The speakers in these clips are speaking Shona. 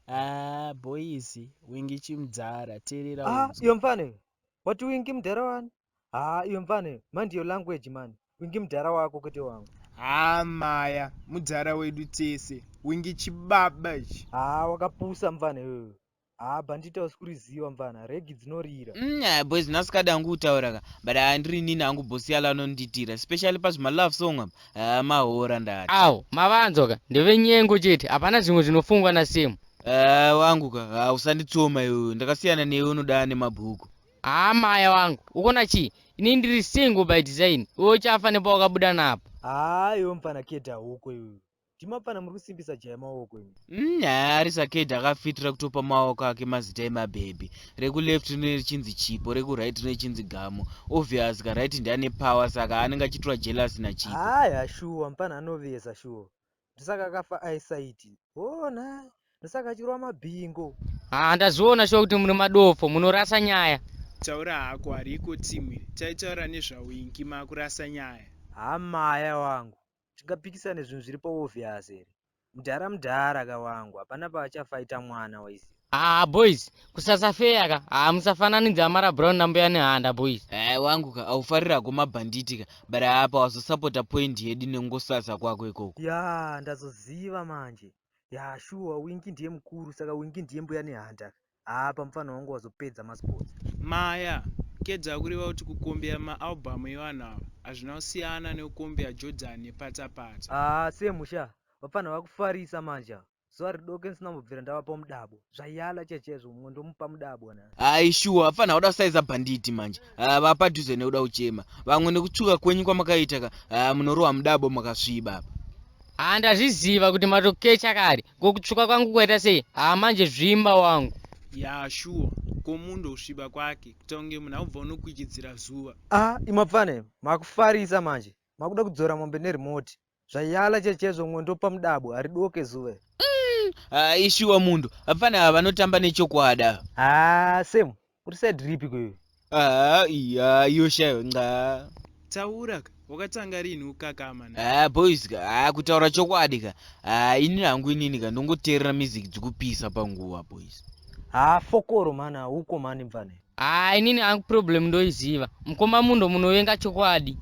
Ah, boys, wingi chimdhara, teerera Ah, unzwe. iyo mfana iyo. Wati wingi mudhara wani? haa iwe mfane mind your language man wingi mudhara wako kwete wangu haa maya mudhara wedu tese wingi chibaba ichi haa wakapusa mfane iwewe haa bhandita usikuriziva mfana regi dzinorira mm, aya boys nasikadi angu kutaura ka but aya ndiri nini angu bosi yalo anondiitira especially pazvimalove song apa haa mahora ndati awo mavanzwa ka ndevenyengo chete hapana zvimwe zvinofungwa nasemu haa wangu ka haa usanditsoma iwewe ndakasiyana newe unodaa nemabhuku Haa maya wangu ukona chii ini ndiri single by design iwe uchafa nepawakabuda napo haa iwe mupfana keda hoko iwe ndimapfana muri kusimbisa jaya maoko imi mm, haa ari sakeda akafitira kutopa maoko ake mazita emabhebhi rekuleft rine richinzi chipo rekuright rine richinzi gamo obvious ka right ndi ane power saka anenge achitura jealous nachipo haa shuwa mupfana anovesa shuwa ndosaka akafa aisaiti ona ndosaka achirwa mabhingo haa ah, ndazviona shuwa kuti mune madofo munorasa nyaya taura hako hariko timwe taitaura nezvawingi makurasa nyaya haa maya wangu tingapikisane zvinhu zviri paovhiasi here mudhara mudhara ka wangu hapana paachafaita mwana waiziva Ah boys, kusasa fair ka. Ah musafananidza Amara Brown na Mbuya Nehanda boys. Eh wangu ka aufarira ko mabhanditi ka. But apa wazosapota point yedu nengosasa kwako ikoko. Ya ndazoziva manje. Ya shuwa Winky ndiye mukuru saka Winky ndiye Mbuya Nehanda. Ah pamufana wangu wazopedza masports. Maya, kedza kureva kuti kukombeya maalbhamu evanhu ava hazvina kusiyana nekukombeya Jordan nepatsa patsa. Ah semusha, vapfanha vakufarisa manje ava. zuva ridoke ndisina kubvira ndavapa mudabo zvayala chaiye chaizvo mumwe ndomupa mudabo na hayi shuwa hapana hauda kusaiza bhanditi manje haa vapadhuze nekuda kuchema vamwe nekutsvuka kwenyu kwamakaita ka haa munorohwa mudabo makasviba apa haa ndazviziva kuti matokecha kare kokutsvuka kwangu kwaita sei haa manje zvimba wangu ya shuwa ko munhu ndokusviba kwake kuita kunge munhu akubva unokwichidzira zuva a ah, imapfane makufarisa manje makuda kudzora mombe nerimoti Zvayala chechezvo mwondo pamudabwa haridoke zuve. Mm, ah, ishuwa mundu hapana ava vanotamba nechokwada. Ah, Sam, uri side ripi kwewe? Ah, iya, iyo shayo nxa. Taura ka, wakatanga rini ukakama na. Ah, boys ka, ah, kutaura chokwadi ka. Ah, ini hangu inini ka ndongoteerera music dzikupisa panguva boys. Ah, fokoro mana, huko mani mvane. Haa inini angu problem ndoiziva. Mkoma Mundo munovenga chokwadi.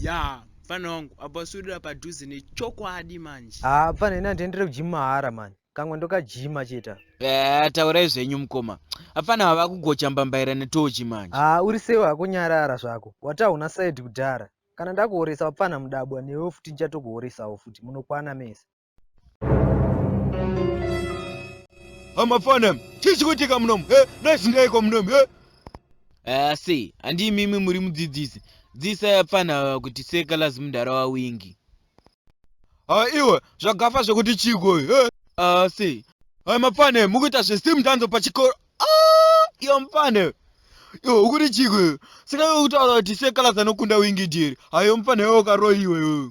Yaa mfana wangu apa uswedera padhuze nechokwadi manje. Haa mfana ini handiendere kugym mahara mani. Kamwe ndokajima cheta. Eh, taurai zvenyu mkoma. Apfana ava vakugocha mbambaira netochi manje. Haa uri sei hako nyarara zvako. Wati hauna side kudhara. Kana ndakuhoresa wapfana mudabwa newewo futi ndichatokuhoresawo futi. Munokwana mese. amafana chii chikuitika munomu e eh, naizindaiko munomu e eh? asi eh, handii mimi muri mudzidzisi dzisa yapfana ava kuti seka lazi mudhara wawingi ha ah, iwe zvagafa zvekuti chiko e asi hai mapfane mukuita zvestim danzo pachikoro Ah, iyo mupanda iyo. Iyo ukuri chiko iyo. Sina iwe kutaura kuti sekala zanokunda wingi jeri. Hayo mupanda iwe ukaroiwa iwe.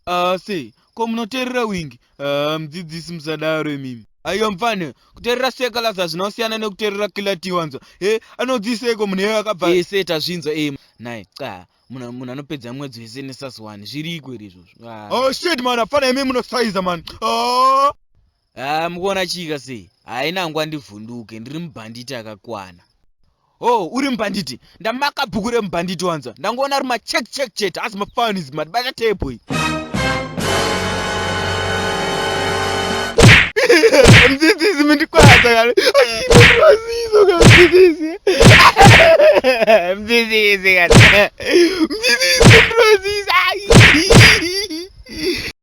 Ah, sei. Ko munoterera wingi. Ah, mudzidzisi musadaro imimi. Ayo mfana kuterera sekala zvazvina kusiyana nekuterera kilati wanzwa he anodziseiko munhu iye akabva ese tazvinzwa e naye xa munhu munhu anopedza mwedzi wese nesasiwani zviriko iri izvozvo oh shit man afana imi munosaiza man oh. Ah, mukuona chika sei? Haina ngwa ndivhunduke, ndiri mubhanditi akakwana. Oh, uri mubhanditi? Ndamaka bhuku remubhanditi wanzwa. Ndangoona ari macheck check chete, asi mafanizi madibata table iyi. Mdzidzisi mundikwadza kare. Ai, mwaziso kare mdzidzisi. Mdzidzisi kare. Mdzidzisi mwaziso. Ai.